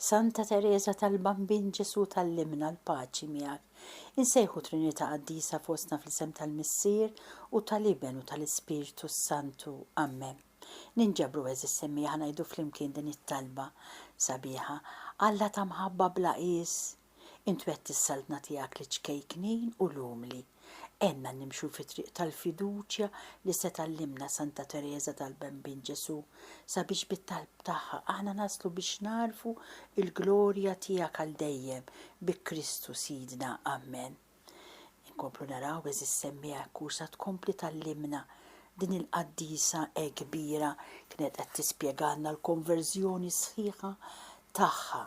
Santa Tereża tal-Bambin Ġesù tgħallimna l-paċi miegħek. Insejħu Trinità qaddisa fostna fl-isem tal-Missier u tal-Iben u tal-Ispirtu s-Santu. Ammen. Ninġabru għeżież semmieħa ngħidu flimkien din it-talba sabiħa, Alla ta' mħabba bla qies, Int twetti s-Saltna tiegħek liċ-ċkejknin u l-umli. Għenna nimxu fit-triq tal-fiduċja li se tgħallimna Santa Tereża tal-Bambin Ġesù, sabiex bit-talb tagħha aħna naslu biex nagħrfu l-glorja tiegħek għal dejjem, bi Kristu Sidna. Amen. Inkomplu naraw eżiż semmiegħa jekk hu sa tkompli tgħallimna din il-qaddisa hekk kbira kienet qed tispjegalna l-konverżjoni sħiħa tagħha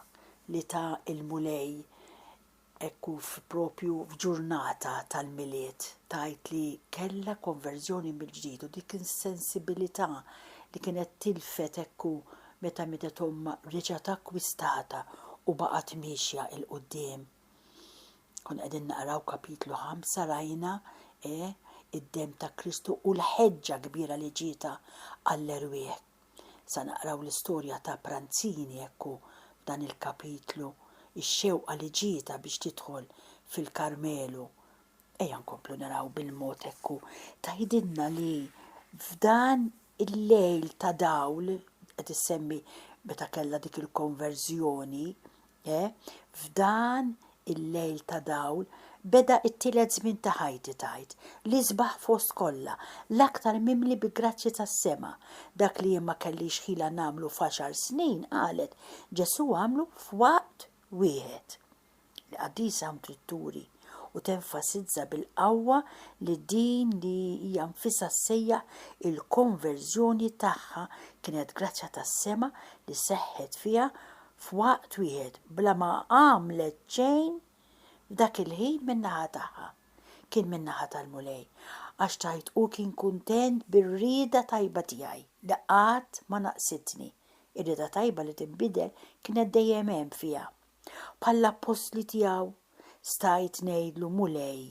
li ta il-Mulej hekk hu propju f'ġurnata tal-Milied tgħid li kellha konverżjoni mill-ġdid u dik insensibilità li kienet tilfet hekk hu meta mietet ommha reġgħet akkwistatha u baqgħet miexja 'il quddiem. Kun qegħdin naqraw kapitlu 5 rajna e id-dem ta' Kristu u l-ħeġġa kbira li ġieta għall-erwieħ. Sa naqraw l-istorja ta' Pranzini ekku f'dan il-kapitlu ix-xewqa li ġieta biex tidħol fil-Karmelu Ejja nkomplu naraw bil-mod hekk u tgħidilna li f'dan il-lejl ta' dawl qed issemmi meta kellha dik il-konverżjoni, eh, f'dan il-lejl ta' dawl beda t-tielet żmien ta' ħajti tgħid, l-isbaħ fost kollha, l-aktar mimli bi grazzji tas-sema. Dak li jien ma kellix ħila nagħmlu f'għaxar snin, qalet, Ġesù għamlu f'waqt wieħed. Il-Qaddisa hawn trid turi u tenfasizza bil-qawwa li din li hija nfisha ssejjaħ il-konverżjoni tagħha kienet grazzja tas-sema li seħħet fiha f'waqt wieħed bla ma għamlet xejn f'dak il-ħin min-naħa tagħha. Kien min-naħa tal-Mulej, għax tgħid hu kien kuntent bir-rieda tajba tiegħi li qatt ma naqsitni. Ir-rieda tajba li tinbidel kienet dejjem hemm fiha. Bħall-appostli tiegħu, stajt ngħidlu, Mulej,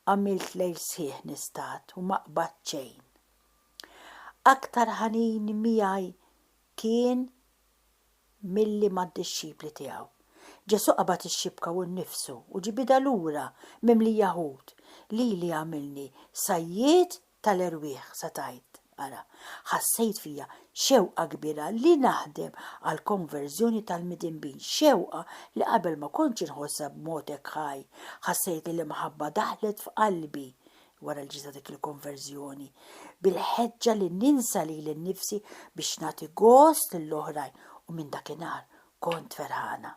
għamilt lejl sħiħ nistat u ma qbadt xejn. Aktar ħanin miegħi kien milli mad-dixxipli tiegħu. Ġesù qabad ix-xibka hu nnifsu u ġibidha lura mimlija ħut, lili għamilni sajjied tal-erwieħ sa tgħid, Ara, ħassejt fija xewqa kbira li naħdem għall-konverżjoni tal-midinbin, xewqa li qabel ma kontx inħossha b'mod hekk ħaj. Ħassejt li l-imħabba daħlet f'qalbi wara li ġejt dik il-konverżjoni, bil-ħeġġa li ninsa lili nnifsi biex nagħti gost lill-oħrajn u minn dakinhar kont ferħana.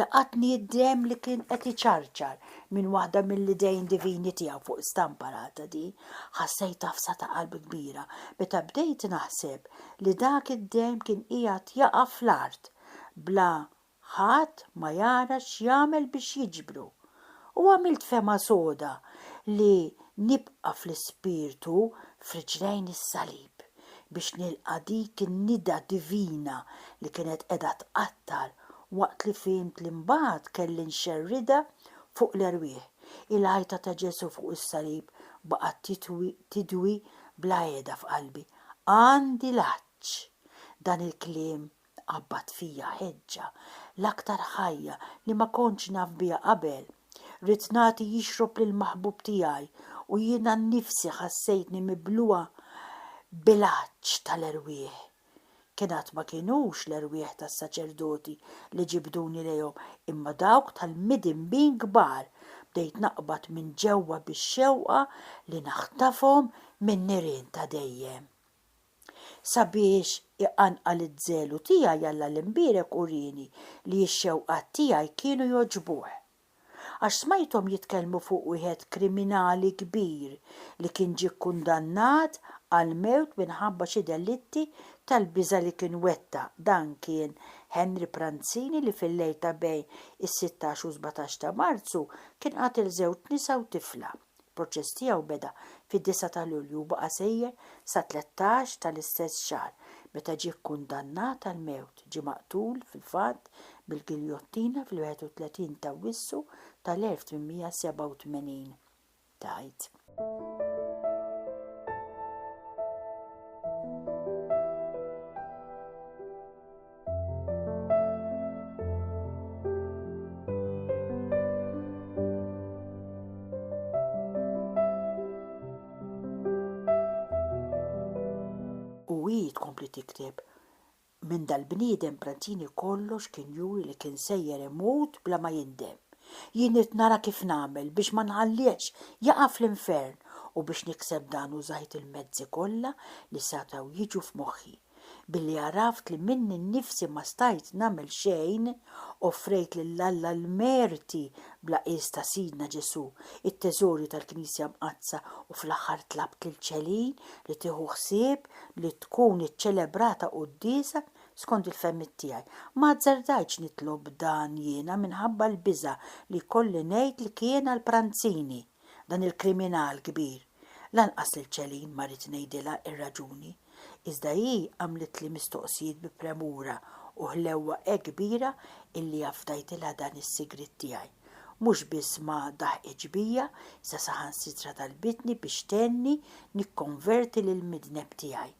Laqatni d-demm li kien qed iċarċar minn waħda mill-idejn divini tiegħu fuq stampa l-għada di. Ħassejt tafsa ta' qalbi kbira meta bdejt naħseb li dak id-demm kien qiegħed jaqa' fl-art bla ħadd ma jara x'jagħmel biex jiġbru. U għamilt fehma soda li nibqa' fl-ispirtu f'riġlejn is-salib biex nilqa' dik in-nida divina li kienet qiegħda tqattar waqt li fhimt li mbagħad kelli nxerridha fuq l-erwieħ. Il-għajta ta' Ġesù fuq is-salib baqgħet titwi, tidwi bla qiegħda f'qalbi. Għandi l-għatx! Dan il-kliem qabbad fija ħeġġa, l-aktar ħajja li ma kontx naf biha qabel. Ridt nagħti jixrob lill-maħbub tiegħi u jiena nnifsi ħassejtni mibluha bil-għatx tal-erwieħ. Kien għad ma kinux l-erwieħ tas-saċerdoti li ġibduni lejhom, imma dawk tal-midinbin kbar. Bdejt naqbad minn ġewwa bix-xewqa li naħtafhom min-nirien ta' dejjem. Sabiex iqanqal iż-żelu tiegħi Alla l-Imbierek urieni li x-xewqat tiegħi kienu jogħġbuh. għax smajthom jitkellmu fuq wieħed kriminali kbir li kien ġie kkundannat għall-mewt minħabba xi delitti tal-biża' li kien wettaq, dan kien Henry Pranzini li fil-lejl ta' bejn is-sittax u s-sbatax ta' Marzu kien qatel żewġ nisa u tifla. Il-proċess tiegħu beda fid-disgħa ta' Lulju u baqa' sejjer sat-tlettax tal-istess xahar meta ġie kkundannat għall-mewt, ġie maqtul, fil-fatt, bil-giljottina fil-31 t'Awwissu tal-1887, tgħid. U hi tkompli tikteb, Minn dal-bniedem Pranzini kollox kien juri li kien sejjer imut bla ma jindem. Jien ridt nara kif nagħmel biex ma nħallihx jaqa' fl-infern u biex nikseb dan użajt il-mezzi kollha li setgħu jiġu f'moħħi. Billi għaraft li minni nnifsi ma stajt nagħmel xejn, offrejt lil Alla l-merti bla qies ta' Sidna Ġesù, it-teżorju tal-Knisja Mqaddsa u fl-aħħar tlabt lil Celine li tieħu ħsieb li tkun iċċelebrata quddiesa skond il-fehmiet tiegħi. Ma azzardajtx nitlob dan jiena minħabba l-biża' li jkolli ngħid li kien għal Pranzini, dan il-kriminal kbir. Lanqas lil Celine ma ridt ngħidilha r-raġuni. iżda hi għamlitli mistoqsijiet bi premura u ħlewwa hekk kbira illi afdajtilha dan is-sigriet tiegħi. Mhux biss ma daħqitx bija, iżda saħansitra talbitni biex tgħenni nikkonverti lill-midneb tiegħi.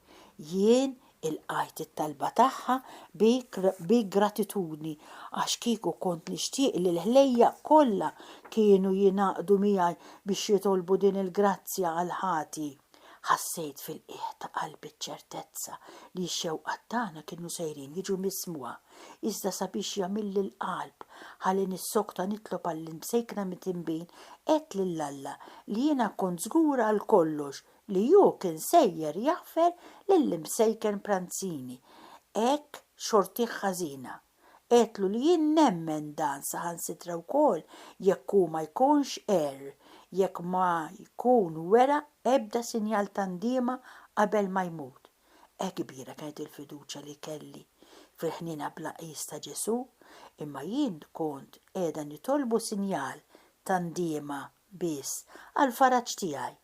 Jien ilqajt it-talba tagħha bi gratitudni għax kieku kont nixtieq li l-ħlejjaq kollha kienu jingħaqdu miegħi biex jitolbu din il-grazzja għall-ħati. Ħassejt fil-qiegħ ta' qalbi ċ-ċertezza li x-xewqat tagħna kienu sejrin jiġu mismugħa, iżda sabiex jagħmilli l-qalb ħalli nissokta nitlob għall-imsejkna mit-tinbin, għedt lil Alla li jiena kont żgur għal kollox li Hu kien sejjer jaħfer lill-imsejken pranzini. Hekk xortih ħażina. Għedtlu li jien nemmen dan saħansitra wkoll jekk hu ma jkunx għerr, jekk ma jkun wera ebda sinjal ta' ndiema qabel ma jmut. Hekk kbira kienet il-fiduċja li kelli fil-ħniena bla qies ta' Ġesù, imma jien kont qiegħda nitolbu sinjal ta' ndiema biss, għall-faraġ tiegħi.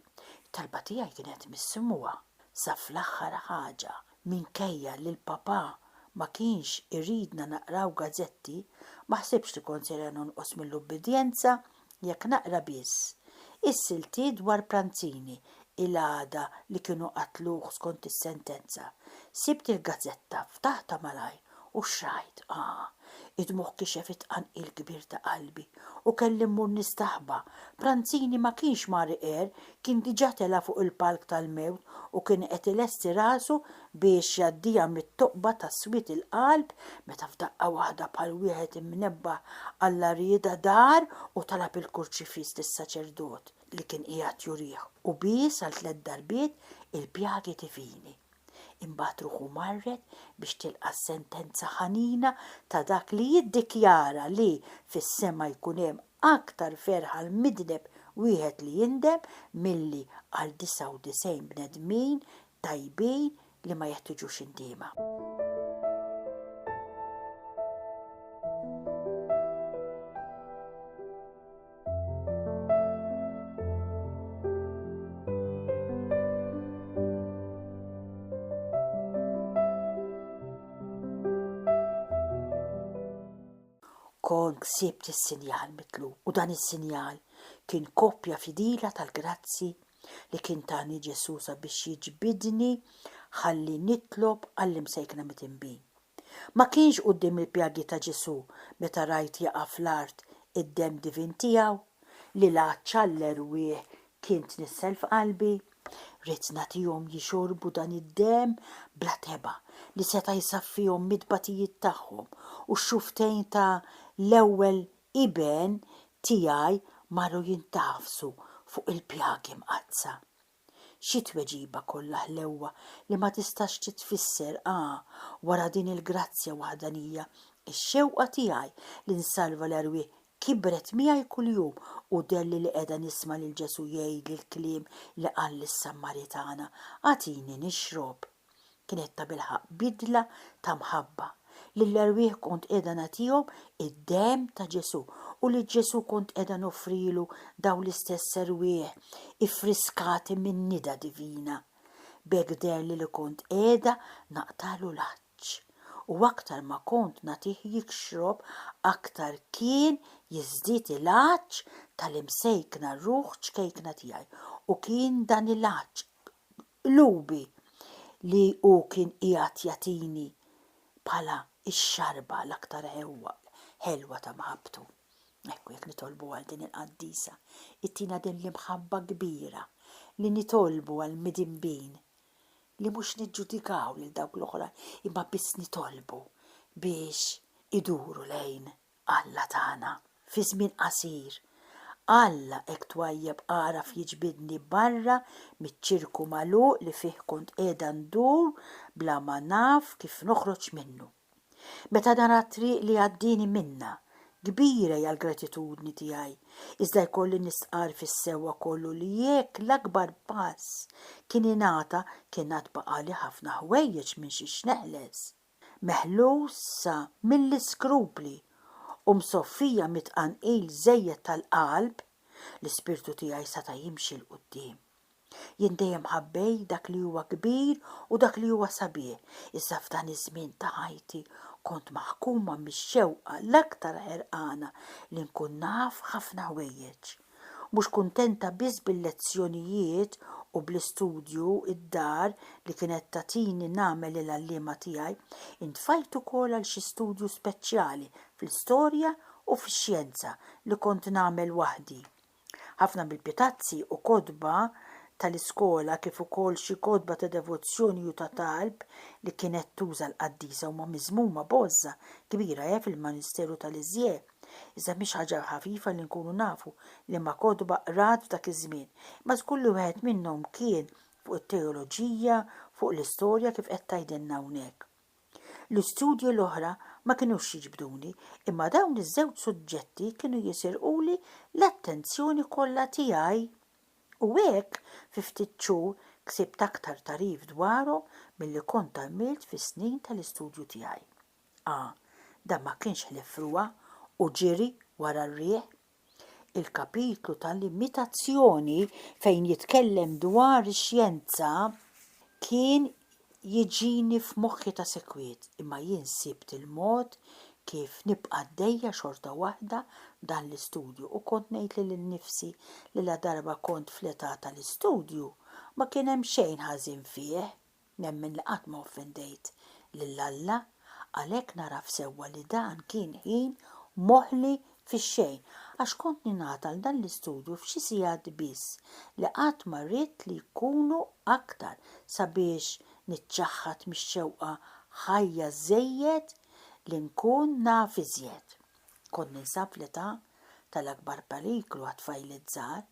It-talba tiegħi kienet mismugħa sa fl-aħħar ħaġa. Minkejja li l-Papà ma kienx iridna naqraw gażetti, ma ħsibtx li kont sejra nonqos mill-ubbidjenza jekk naqra biss is-siltiet dwar Pranzini il-għada li kienu qatluh skont is-sentenza. Sibt il-gażetta, ftaħtha malajr. U xrajt, ah, id-dmugħ kixef it-tqanqil kbir ta' qalbi u kelli mmur nistaħba. Pranzini ma kienx Mari għer, kien diġà tela' fuq il-palk tal-mewt u kien qed ilesti rasu biex jgħaddiha mit-toqba ta' swied il-qalb meta f'daqqa waħda bħal wieħed imnebbaħ Alla riedha dar u talab il-kurċifiss lis-saċerdot li kien qiegħed jurih u bies għal tliet darbiet il-pjagi divini. Imbagħad ruħu marret biex tilqa' s-sentenza ħanina ta' dak li jiddikjara li fis-sema jkun hemm aktar ferħ għal midneb wieħed li jindem milli għal 99 bnedmin tajbin li ma jeħtiġux indiema. Kont ksibt is-sinjal mitlub u dan is-sinjal kien koppja fidila tal-grazzi li kien tani Ġesu sabiex jiġbidni ħalli nitlob għall-imsejkna mitinbin. Ma kienx quddiem il-pjagi ta' Ġesù meta rajt jaqa' fl-art id-demm divin tiegħu, li la ċall l-erwieħ kien tnissel f'qalbi. Ridt nagħtihom jixorbu dan id-demm bla tebgħa li seta' jsaffihom mit-tbatijiet tagħhom u x-xufftejn ta' l-ewwel iben tiegħi marru jintagħfsu fuq il-pjagi mqaddsa. Xi tweġiba kollha ħlewwa li ma tistax titfisser, ah, wara din il-grazzja waħdanija, ix-xewqa tiegħi li nsalva l-erwieħ kibret miegħi kuljum u dhelli li qiegħda nisma' lil Ġesù jgħidli l-kliem li qal lis-Sammaritana, Agħtini nixrob. Kienet tabilħaqq bidla ta' mħabba, li l-erwieħ kont qiegħda nagħtihom id-demm ta' Ġesù u lil Ġesù kont qiegħda noffrilu dawn l-istess erwieħ iffriskati min-nida divina. B'hekk deherli li kont qiegħda naqtagħlu l-għatx, u aktar ma kont nagħtih jixrob aktar kien jiżdied il-għatx tal-imsejkna ruħ ċkejkna tiegħi, u kien dan il-għatx qlubi li hu kien qiegħed jagħtini bħala x-xarba l-aktar ħelwa ta' mħabbtu. Ekku jekk nitolbu għal din il-qaddisa, ittina din l-imħabba kbira li nitolbu għall-midinbin, li mhux niġġudikaw lil dawk l-oħra imma biss nitolbu biex iduru lejn Alla tagħna, fi żmien qasir, Alla hekk twajjeb għaraf jiġbidni barra miċ-ċirku magħluq li fih kont qiegħda ndur bla ma naf kif noħroġ minnu. Meta nara t-triq li għaddieni minnha, kbira hija l-gratitudni tiegħi, iżda jkolli nistqarr fis-sewwa kollu li jekk l-akbar pass kien ingħata kien għad baqgħali ħafna ħwejjeġ minn xiex neħles. meħlusa mill-iskrupli u msoffija mit-tqanqil żejjed tal-qalb, l-ispirtu tiegħi seta' jimxi 'l quddiem. Jien dejjem ħabbejt dak li huwa kbir u dak li huwa sabiħ, iżda f'dan iż-żmien ta' ħajti kont maħkuma mix-xewqa l-aktar ħerqana li nkun naf ħafna ħwejjeġ. Mhux kuntenta biss bil-lezzjonijiet u bl-istudju d-dar li kienet tagħtini nagħmel lill-għalliema tiegħi, intfajt ukoll għal xi studju speċjali fl-istorja u fix-xjenza li kont nagħmel waħdi. Ħafna mill-pitazzi u kotba tal-iskola kif ukoll xi kotba ta' devozzjoni u ta' talb li kienet tuża l-qaddisa huma miżmuma b'għożża kbira fil-Manisteru ta' Lisieux. Iżda mhix ħaġa ħafifa li nkunu nafu liema kotba qrat f'dak iż-żmien, imma żgur li wieħed minnhom kien fuq it-teoloġija, fuq l-istorja kif qed tgħidilna hawnhekk. L-istudji l-oħra ma kinux jiġbduni, imma dawn iż-żewġ suġġetti kienu jisirquli l-attenzjoni kollha tiegħi. U hekk, fi ftit xhur, ksibt aktar tagħrif dwarhom milli kont għamilt fis-snin tal-istudju tiegħi. A, Dan ma kienx ħlief f'ruha u ġiri wara r-riħ. Il-kapitlu ta' l-imitazzjoni fejn jitkellem dwar ix-xjenza kien jiġini f'moħħi ta' sikwit imma jien sibt il-mod kif nibqa' għaddejja xorta waħda b'dan l-istudju u kont ngħid lili nnifsi li ladarba kont fl-età ta' l-istudju ma kien hemm xejn ħażin fih. Nemmen li qatt ma offendejt lil Alla, għalhekk nagħraf sewwa li dan kien ħin moħli fix-xejn, għax kont ningħata għal dan l-istudju f'xi sigħat biss, li qatt ma ridt li jkunu aktar sabiex niċċaħħad mix-xewqa ħajja żejjed li nkun naf iżjed. Kont ninsab fl-età tal-akbar periklu għat-tfajliet żgħar,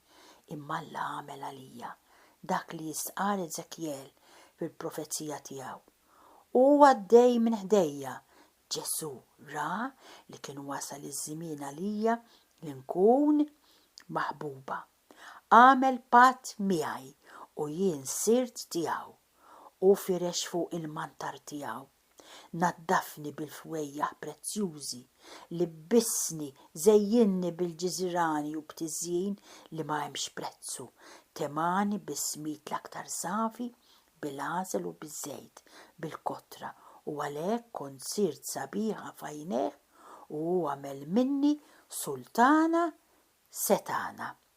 imma Alla għamel għalija dak li jistqarr Eżekjel fil-profezija tiegħu, U għaddej minn ħdejja! Ġesù ra li kien wasal iż-żmien għalija li nkun maħbuba. Għamel patt miegħi u jien sirt tiegħu. Hu firex fuqi l-mantar tiegħu. Naddafni bil-fwejjaħ prezzjużi, libbisni, żejjinni bil-ġiżirani u b'tiżjin li ma hemmx prezzu, temgħani bis-smid l-aktar safi, bil-għasel u biż-żejt, bil-kotra, u għalhekk kont sirt sabiħa f'għajnejh u hu għamel minni sultana setgħana.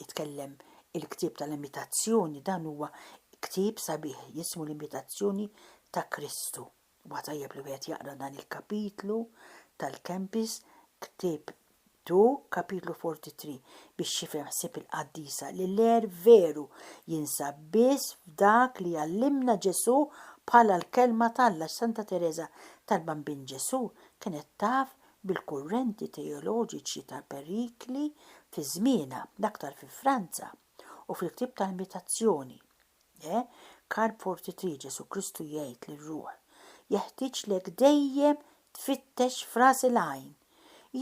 jitkellem il-ktieb tal-Imitazzjoni, dan huwa ktieb sabiħ jismu l-Imitazzjoni ta' Kristu. Huwa tajjeb li wieħed jaqra dan il-kapitlu tal-Kempis, ktieb Tu, kapitlu 43, biex jifhem ħsieb il-qaddisa li l-għer veru jinsab biss f'dak li jgħallimna Ġesù bħala l-Kelma t'Alla. Santa Tereża tal-Bambin Ġesù kienet taf bil-kurrenti teoloġiċi tal-perikli fi żmienha, l-aktar fi Franza, u fil-ktieb tal-Imitazzjoni, E. Karp 43, Ġesù Kristu jgħid lir-ruħ, Jeħtieġlek dejjem tfittex f'ras il-għajn.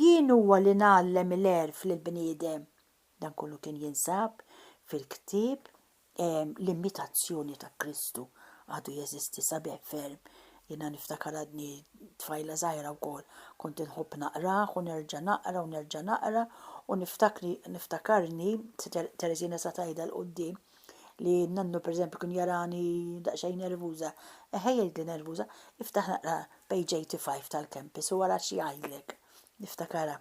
Jien huwa li ngħallem il-għerf lill-bniedem, Dan kollu kien jinsab fil-ktieb L-Immitazzjoni ta' Kristu. Għadu jeżisti sabiħ ferm. Jiena niftakar għadni tfajla żgħira wkoll, kont inħobb naqrah u nerġa' naqra u nerġa' naqra u niftakri niftakarni Tereżina sa tgħidha 'l quddiem li nannu pereżempju kien jarani daqsxejn nervuża. Eħe jgħidli nervuża, iftaħ naqra page 85 tal-Kempis u ara x'jgħidlek. Niftakarha.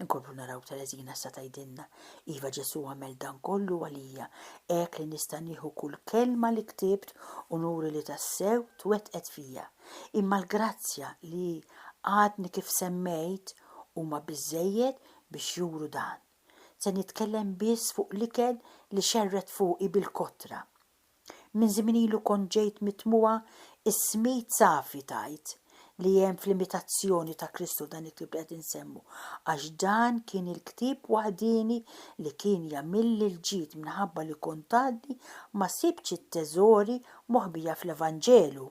Inkomplu naraw Tereżina sa tgħidilna, Iva Ġesù għamel dan kollu għalija, hekk li nista' nieħu kull kelma li ktibt u nuri li tassew twettqet fija. Imma l-grazzja li għadni kif semmejt huma biżżejjed biex juru dan. Se nitkellem biss fuq l-ikel li xerred fuqi bil-kotra. Minn żmien ilu kont ġejt mitmugħa s-smit safi tgħid li hemm fl-imitazzjoni ta' Kristu dan il-ktieb li qed insemmu, għax dan kien il-ktieb waħdieni li kien jagħmilli l-ġid minħabba li kont għadni ma sibtx it-teżori moħbija fl-Evanġelu.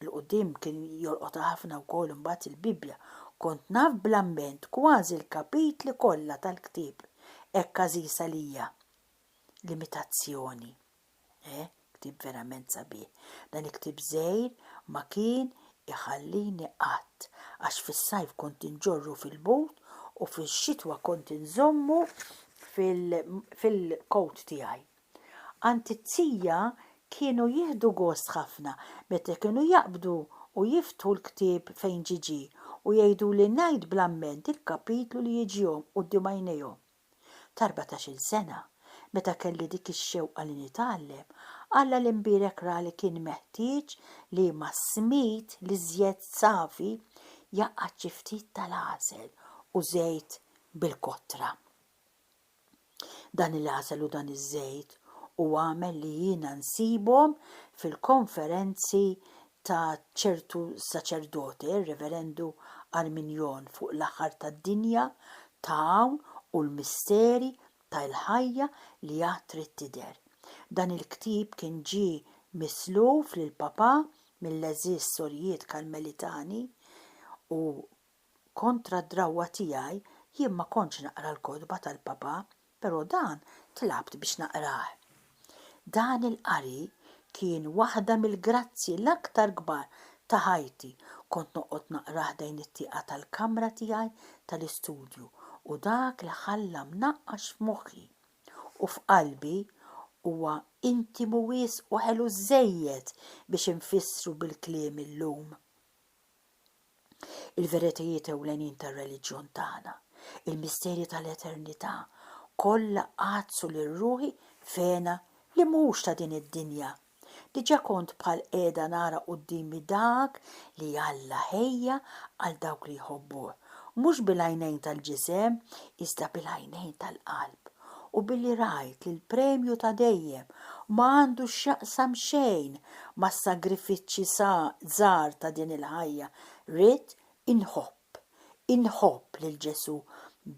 'l quddiem kien jolqotha ħafna wkoll imbagħad il-Bibbja. Kont naf bl-amment kważi l-kapitli kollha tal-ktieb hekk għażiż għalija. limitazzjoni. Eh, ktieb verament sabiħ. Dan il-ktieb żgħir ma kien iħallini qatt għax fis-sajf kont inġorru fil-but u fix-xitwa kont inżommu fil-kowt tiegħi. Għand it-tija kienu jieħdu gost ħafna meta kienu jaqbdu u jiftħu l-ktieb fejn ġiġi u jgħiduli ngħid bl-amment il-kapitlu li jiġihom quddiem għajnejhom. Ta' erbatax-il sena, meta kelli dik ix-xewqa li nitgħallem, Alla l-imbierek ra li kien meħtieġ li mas-smid l-iżjed safi jgħaqqad xi ftit tal-għasel u żejt bil-kotra. Dan il-għasel u dan iż-żejt hu għamel li jiena nsibhom fil-konferenzi ta' ċertu saċerdote, r-Reverendu Arminjon fuq l-aħħar tad-dinja ta' hawn u l-misteri ta' il-ħajja li għad trid tidher. Dan il-ktieb kien ġie misluf lill-Papà mill-għeżież Sorijiet Karmelitani u Kontra d-drawwa tiegħi, jien ma kontx naqra l-kotba tal-Papa, però dan tlabt biex naqrah. Dan il-qari kien waħda mill-grazzji l-aktar kbar ta' ħajti, kont noqgħod naqra ħdejn it-tieqa tal-kamra tiegħi tal-istudju u dak li ħalla mnaqqax f'moħħi u f'qalbi huwa intimu wisq u ħelu żżejjed biex infissru bil-kliem illum. Il-veritajiet ewlenin tar-reliġjon tagħna, il-misterji tal-eternità, kollha għaddsu lil ruħi f'hena li mhuwiex ta' din id-dinja. Diġà kont bħal qiegħda nara quddiemi dak li Alla ħejja għal dawk li jħobbuh, mhux bil-għajnejn tal-ġisem, iżda bil-għajnejn tal-qalb. u billi rajt li l-premju ta' dejjem ma għandu x'jaqsam xejn mas-sagrifiċċji żgħar ta' din il-ħajja, ridt inħobb, inħobb lil Ġesù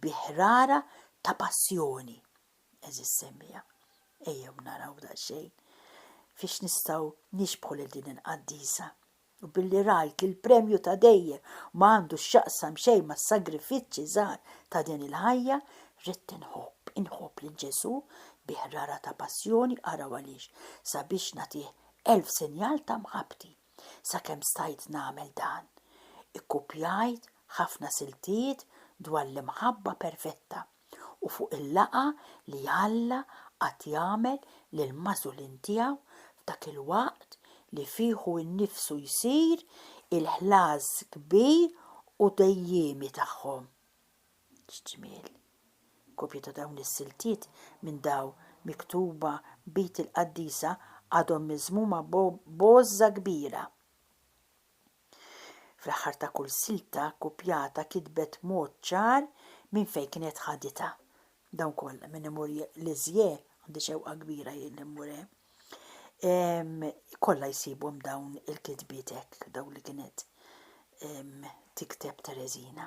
bi ħrara ta' passjoni. Għeżież semmiegħa, ejjew naraw daqsxejn fiex nistgħu nixbħu lil din il-qaddisa. u billi rajt li l-premju ta' dejjem ma għandu x'jaqsam xejn mas-sagrifiċċji żgħar ta' din il-ħajja, ridt inħobb, inħobb lil Ġesù bi ħrara ta' passjoni, araw għaliex, sabiex nagħtih elf sinjal ta' mħabbti. Sakemm stajt nagħmel dan, ikkupjajt ħafna siltiet dwar l-imħabba perfetta. u fuq il-laqgħa li Alla qagħad jagħmel lill-magħżulin tiegħu f'dak il-waqt li fih hu nnifsu jsir il-ħlas kbir u dejjiemi tagħhom. X'ġmiel! Kopji ta' dawn is-siltiet minn daw miktuba b'id il-qaddisa għadhom miżmuma b'għożża kbira. Fl-aħħar ta' kull silta kkupjata kitbet mod ċar minn fejn kienet ħaditha. Dawn kollha minn imur l-Iżjè, għandi xewqa kbira jien li mmur hemm, ehm, kollha jsibhom dawn il-kitbiet hekk, dawn li kienet ehm, tikteb Tereżina.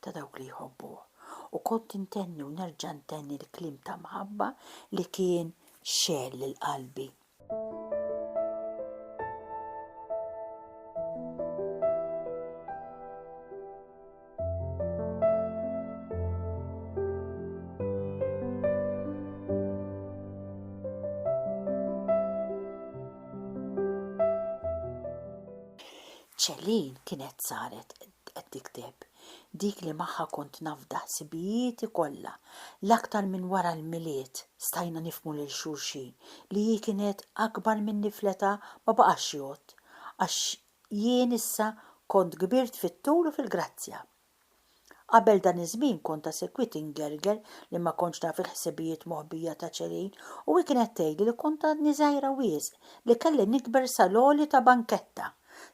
ta' dawk li jħobbuh, u kont intenni u nerġa' ntenni l-kliem ta' mħabba li kien xegħel lil qalbi. Céline kienet saret Qed tikteb, dik li magħha kont nafda ħsibijieti kollha. L-aktar minn wara l-Milied stajna nifhmu lil xulxin li hi kienet akbar minni fl-età ma baqax jgħodd, għax jien issa kont kbirt fit-tul u fil-grazzja. Qabel dan iż-żmien kont ta' sikwit ingerger li ma kontx naf il-ħsibijiet moħbija ta' Celine u hi kienet tgħidli li kont għadni żgħira wisq, li kelli nikber sal-għoli ta' banketta.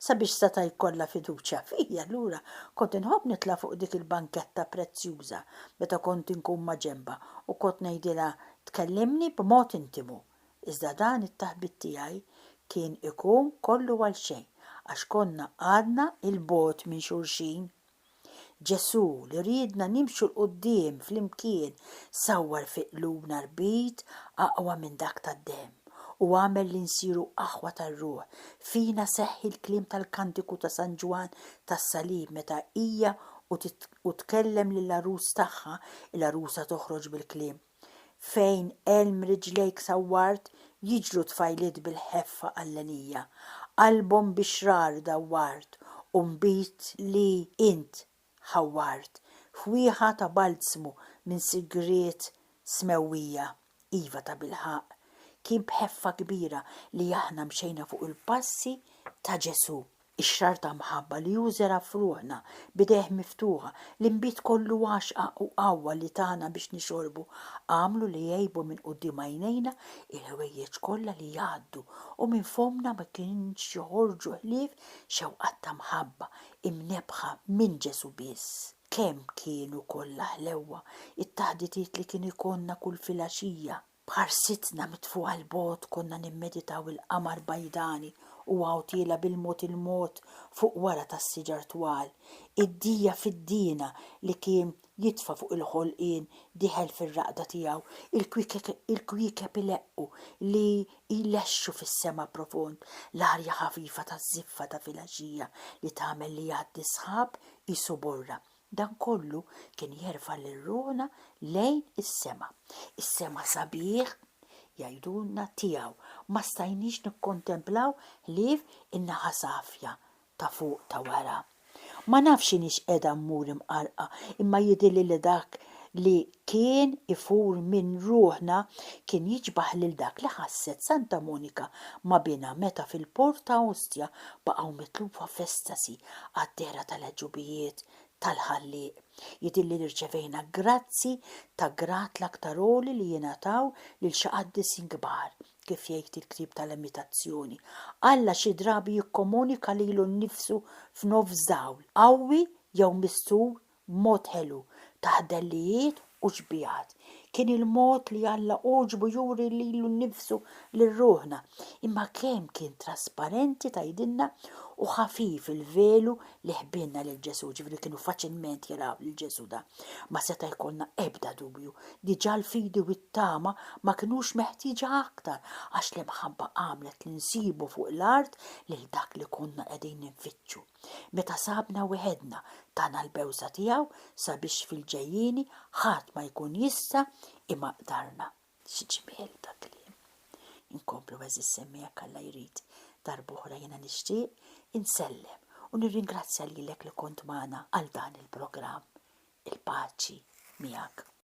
Sabiex seta' jkollha fiduċja fija, allura kont inħobb nitla' fuq dik il-banketta prezzjuża meta kont inkun maġenbha u kont ngħidilha tkellimni b'mod intimu. Iżda dan it-taħbit tiegħi kien ikun kollu għalxejn għax konna għadna 'l bogħod minn xulxin. Ġesù, li riedna nimxu 'l quddiem flimkien, sawwar fi qlubna rbit aqwa minn dak tad-demm, u għamel li nsiru aħwa tar-ruħ. Fina seħħ il-kliem tal-Kantiku ta' San Ġwann tas-Salib meta Hija u tkellem lill-Għarus tagħha, il-Għarusa toħroġ bil-kliem, Fejn għelm riġlejk sawwart jiġru tfajliet bil-ħeffa Allenija, qalbhom bi xrar dawwart u nbid li int ħawwart f'wieħa ta' balzmu minn sigriet smewwija Iva tabilħaqq kien b'ħeffa kbira li aħna mxejna fuq il-passi ta' Ġesù. Ix-xrarr ta' mħabba li hu żera' f'ruħna b'idejh miftuħa, l-inbid kollu għaxqa u qawwa li tana biex nixorbu, għamlu li għejbu minn quddiem għajnejna il-ħwejjeġ kollha li jgħaddu u minn fommna ma kienx joħorġu ħlief xewqat ta' mħabba imnebbħa minn Ġesù biss. Kemm kienu kollha ħlewwa it-taħditiet li kien ikollna kull filgħaxija! B'ħarsitna mitfugħa 'l bogħod konna nimmeditaw il-qamar bajdani u għawtiela bil-mod il-mod fuq wara tas-siġar twal. Id-dija fiddiena li kien jitfa' fuq il-ħolqien diħel fir-raqda tiegħu, il-kwiekeb ileqqu li jlexxu fis-sema profond, l-arja ħafifa taż-żiffa ta' filgħaxija li tagħmel li jgħaddi s-sħab qisu borra. Dan kollu kien jerfa' lil ruħna lejn is-sema. Is-sema sabiħ, jgħidulna, tiegħu. Ma stajniex nikkontemplaw ħlief in-naħa safja ta' fuq ta' wara. Ma nafx x'inhiex qiegħda mmur imqarrqa imma jidhirli li dak li kien ifur minn ruħna kien jiġbaħ lil dak li ħasset Santa Monika ma' binha meta fil-port ta' Ostia baqgħu mitlufa f'estasi għad-dehra tal-għeġubijiet tal-Ħallieq. Jidhirli li rċevejna grazzi ta' grad l-aktar għoli li jingħataw lil xi qaddisin kbar, kif jgħid il-ktieb tal-Imitazzjoni, Alla xi drabi jikkomunika lilu nnifsu f'nofs dawl qawwi jew mistur b'mod ħelu, ta' ħdellijiet u xbigħat. Kien il-mod li Alla għoġbu juri lilu nnifsu lil ruħna. Imma kemm kien trasparenti tgħidilna u ħafif il-velu li ħbielna lil Ġesù, ġifieri kienu faċilment jaraw lil Ġesù da. Ma seta' jkollna ebda dubju. Diġà l-fidi u t-tama ma kinux meħtieġa aktar għax l-imħabba għamlet li nsibu fuq l-art lil dak li konna qegħdin infittxu. Meta sabna weħedna, tana l-bewża tiegħu sabiex fil-ġejjieni ħadd ma jkun jista' imaqdarna. Xi ġmiel ta' kliem! Inkomplu għeżież semmi jekk Alla jrid. Darb'oħra jiena nixtieq insellem u nirringrazzja lilek li kont magħna għal dan il-programm. Il-paċi miegħek.